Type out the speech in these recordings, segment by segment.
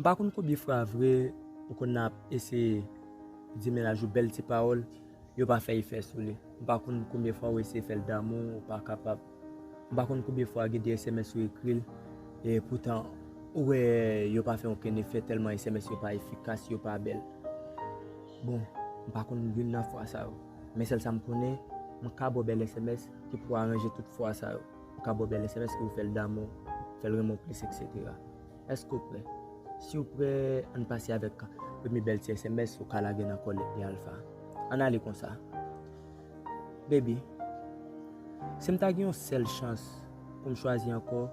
M pa konn konbyen fra vre ou konn ap eseye di mennaj ou bèl ti pawòl yo pa fè efè sou li m pa konn konbyen fwa ou eseye fèl damou ou pa kapab m pa konn konbyen fwa gen de sms ou ekril e poutan ou wè yo pa fè okenn efè tèlman sms yo pa efikas yo pa bèl bon m pa konn youn nan fwa sa yo men sèl sa m konnen m ka baw bèl sms ki pou aranje tout fwa sa yo m ka baw bèl sms ki pou fèl damou fèl renmenw plis eksetera. Èske w prè? Si w prè, an n pase avèk premye bèl ti sms ou ka lage nan kò Lèt Li Alfa a. An n ale konsa. Baby, si m ta gen yon sèl chans pou m chwazi ankò,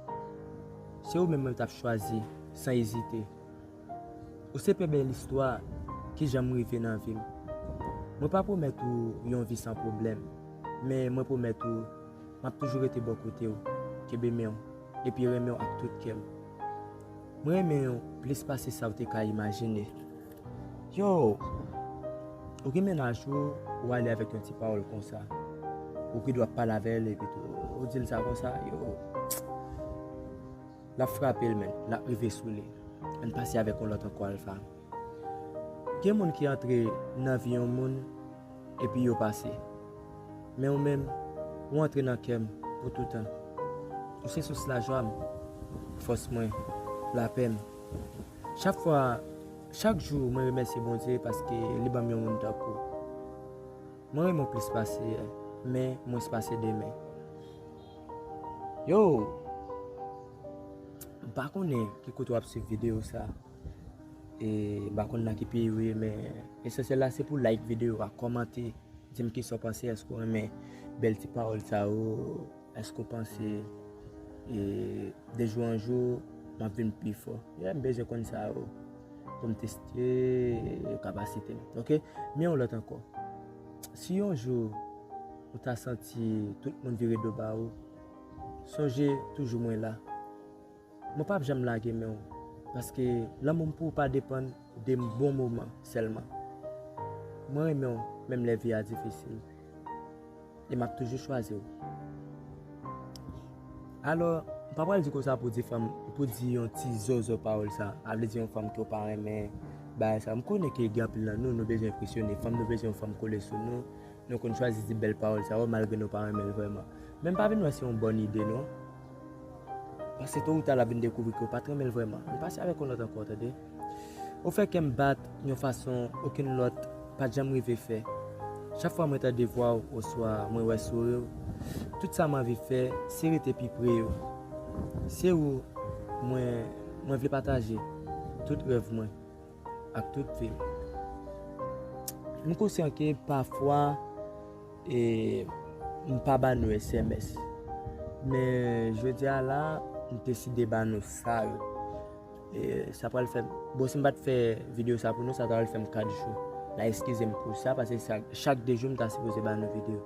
se ou menm mwen t ap chwazi san ezite. Ou se pi bèl istwa ki janm rive nan vi m. Mwen pa pwomèt ou yon vi san pwoblèm, men mwen pwomèt ou m ap toujou rete bò kote w, kenbe men w. epi renmen w ak tout kè m. M renmen w plis pase sa w te ka imajine. Yow! Ou gen mennaj ou, ou ale avèk yon ti pawòl konsa. Ou pi dwa pale avè l epitou ou di l sa konsa, yow! L ap frape l menn, l ap rive sou li. Ann pase avèk yon lòt ankò Alpha. Gen moun ki antre nan vi yon moun epi yo pase. Men ou menm, ou antre nan kè m pou toutan. Ou se sous lajwa m, fòs mwen, lapè m. Chak fwa, chak jou mwen remèsye Bondye paske li ban m yon moun tankou w. Mwen renmen w plis pase yè, men mwens pase demen. Yow! M pa konnen ki kote w ap swiv videyo sa. E mpa konn nan ki peyi ou ye men esansyèl la se pou like video a kòmante dim kisa w panse èske w renmen bèl ti pawòl sa yo èske w panse e de jou an jou map vin pi fò yè m bezwen konn sa yo poum teste kapasite m ok men yon lòt ankò si yon jou ou ta santi tout moun vire do ba ou sonje toujou mwen la. Mwen pap janm lage men w paske lanmou m pou w pa depann de bon moman sèlman. Mwen renmen w menm lè vi a difisil e m ap toujou chwazi w. Alò, m pa pral di konsa pou di fanm, pou di yon ti zòzò pawòl sa a vle di yon fanm ke w pa renmen, bagay sa. M konnen ke gen anpil nan nou, nou bezwen enpresyone fanm, nou bezwen yon fanm kole sou nou, nou konn chwazi di bèl pawòl sa yo malgre nou pa renmen l vrèman. Men m pa vin wè se yon bòn ide non. Pase to ou ta lap vin dekouvri ke ou pat renmenl vrèman. Li pase avèk yon lòt ankò tande. Ou fè kèm bat yon fason okenn lòt pat janm rive fè. Chak fwa mwen tande vwaw oswa mwen wè souriw, tout sa m anvi fè se rete pi pre yo. Se ou mwen mwen vle pataje tout rèv mwen. ak tout vil. M konsyan ke pafwa m pa ba nou sms, men jodi a la m deside ba nou sa yo. Sa pral fè, bon si m pat fè video sa pou nou sa ta pral fè m 4 jou la eskize m pou sa paske chak 2 jou m ta sipoze ba nou video.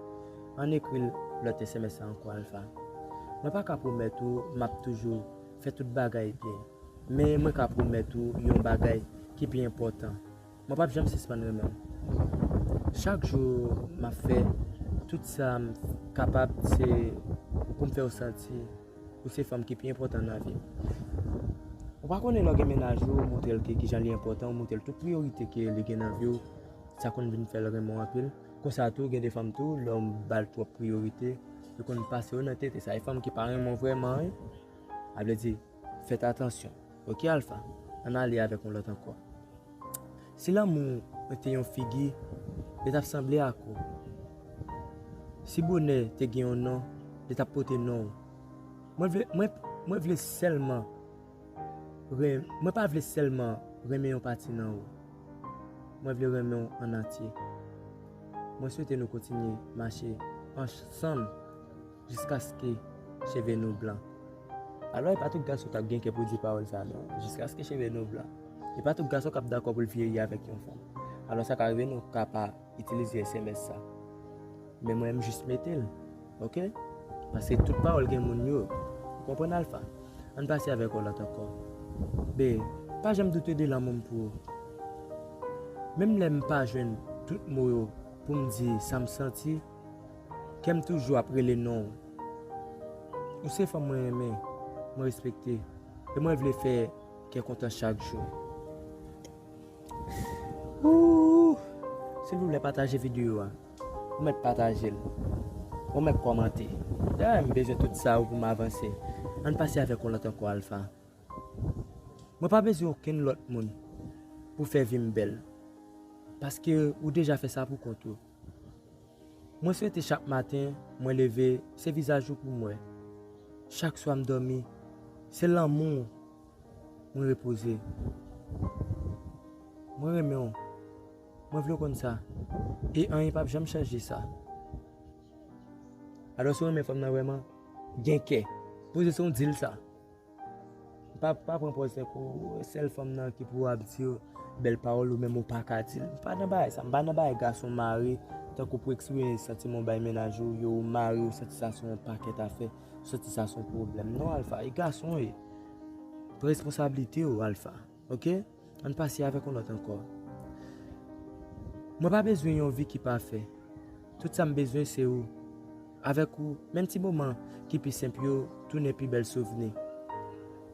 Ann ekri lòt sms la ankò Alpha. Mwen pa ka pwomèt ou m ap toujou fè tout bagay byen. Men mwen ka pwomèt ou yon bagay ki pi enpòtan, mwen pap janm sispann renmen w. Chak jou m ap fè tout sa m kapab se pou m fè w santi ou se fanm ki pi enpòtan nan vi m. Ou pa konnen lè w gen mennaj ou, ou montre l ke kijan li enpòtan, ou montre l tout priyorite ke li gen nan vi w, sa konn vin fè l renmen w anpil. Konsa tou, gen de fanm tou, lè w ba l twòp priyorite, yo konn pase yo nan tete. Sa e fanm ki pa renmen w vrèman wi. Sa vle di, Fèt atansyon ok alfa ann ale avèk yon lòt ankò si lanmou w te yon figi li tap sanble ak ou si bonè te gen yon non li tap pote non w mwen vle mwen vle sèlman mwen pa vle sèlman renmen yon pati nan ou mwen vle renmen w an antye mwen swete nou kontinye mache ansanm. Jiskaske cheve nou blan. Alò, e pa tout gason k ap gen kè pou di pawòl sa a non. Jiskaske cheve nou blan. E pa tout gason k ap dakò pou l vyeyi avèk yon fanm. Alò, sa ka rive nou ka pa itilize sms sa. Men mwen, m jis mete l. Ok? Paske tout pawòl gen moun yo. Ou konprann Alpha? An n pase avèk yon lòt ankò. Be, pa janm doute de lanmou m pou ou. Menm lè m pa jwenn tout mo yo pou m di sa m santi. Kèm toujou ap rele nonw. Ou se fanm mwen renmen, mwen respekte e mwen vle fè kè kontan chak jou. Ooh silvouplè pataje video a. Ou mèt patajel. Ou mèt kòmante. Dayè m bezwen tout sa yo pou m avanse. Ann pase avèk yon lòt ankò Alpha. Mwen pa bezwen okenn lòt moun pou fè vi m bèl. Paske ou deja fè sa pou kont ou. Mwen swete chak maten mwen leve se vizaj ou poum wè chak swa m domi se lanmou w mwen repoze mwen renmen w mwen vle w konn sa e anyen pap janm chanje sa alò si w renmen fanm nan vrèman gen kè poze se w dil sa. Pa pa pran pòz fè kou ou sèl fanm nan ki pou ap di bèl pawòl ou menm ou pa ka dil. M pa nan bagay sa, m pa nan bagay gason mare tankou pou eksprime santiman w bay mennaj ou yo ou mare yo santi sa son pakèt afè, santi sa son pwoblèm. Non Alpha, e gason w ye. Pran responsablite w Alpha. Ok ann pase avèk yon lòt ankò Mwen pa bezwen yon vi ki pafè Tout sa m bezwen se ou Avèk ou menm ti moman ki pi senp yo tounen pi bèl souvni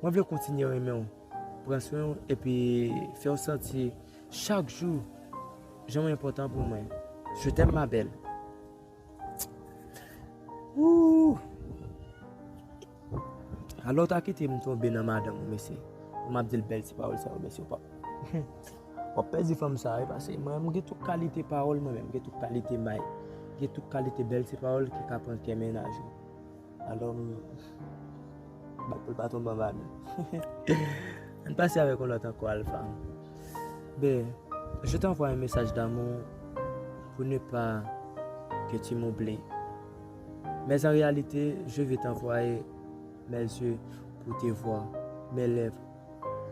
Mwen vle kontinye renmen w pran swen w epi fè w santi chak jou jan w enpòtan pou mwen Je t'aime ma belle Ooh. Alon ta kitem tonbe nan madanm ou mesye pou map dil bèl ti pawòl sa yo mesye pap wap pèdi fanm sa wi pase mwen menm gen tout kalite pawòl mwen menm gen tout kalite may gen tout kalite bèl ti pawòl ki ka pran kè mennaj ou alon bat poul pa tonbe anba men ann pase avèk yon lòt ankò alfa be je t'envoie un message d'amour pou ne pas que tu m'oublies. Mè zan reyalite, je ve tanvwaye mè zye pou te vwa, mè lèv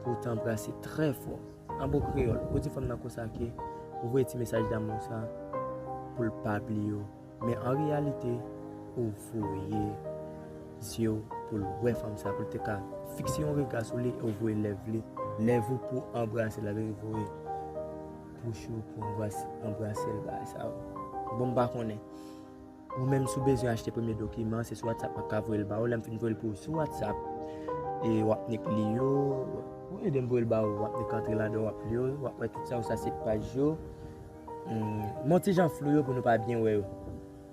pou tanbrase trè fò. An bon kreyòl, ou di fanm nan konsa ke ou voye ti mesaj damou sa pou l pa bliye w. Mè an reyalite, ou voye zye w pou l wè fanm sa, pou l te ka fikse yon rega sou li e w voye lèv li, lèv ou pou anbrase l avè l, voye bouch ou pou anbrase l, bagay sa bon m pa konnen. Ou menm si w bezwen achte premye dokiman an, se sou WhatsApp map ka voye l ba ou. Lè m fin voye l pou ou sou WhatsApp, e wap nik li yo. Ou ede m voye l ba ou, wap nik antre ladan wap li yo, wap wè tout sa yo, sa se paj yo. Bon yon ti jan flou yo pou nou pa byen wè yo.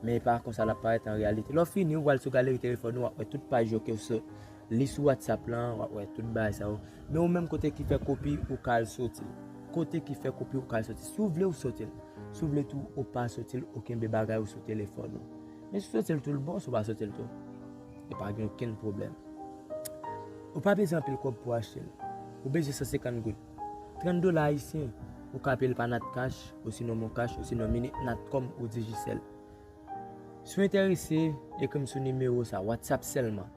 Men e pa konsa lap parèt an reyalite. Lè w fini, ou pral sou galeri telefòn ou, wap wè tout paj yo ke w sot. Li sou whatsapp lan wap wè tout bagay sa yo. Men ou menm kote ki fè kopi ou ka al sotil. Kote ki fè kopi ou ka al sotil. Si ou vle ou sotil. Si ou vle tou ou pa sotil ou kenbe bagay ou sou telefòn ou. Men si ou sotil tou l bon si ou pa sotil tou. E pa gen okenn pwoblèm. Ou pa bezwen anpil kòb pou achte l. Ou bezwen 150 goud. 30 dola ayisyen. Ou ka peye l pa natcash, osinon moncash, osinon mini, natcom ou digicel. Si ou enterese ekri m sou nimewo sa whatsapp sèlman.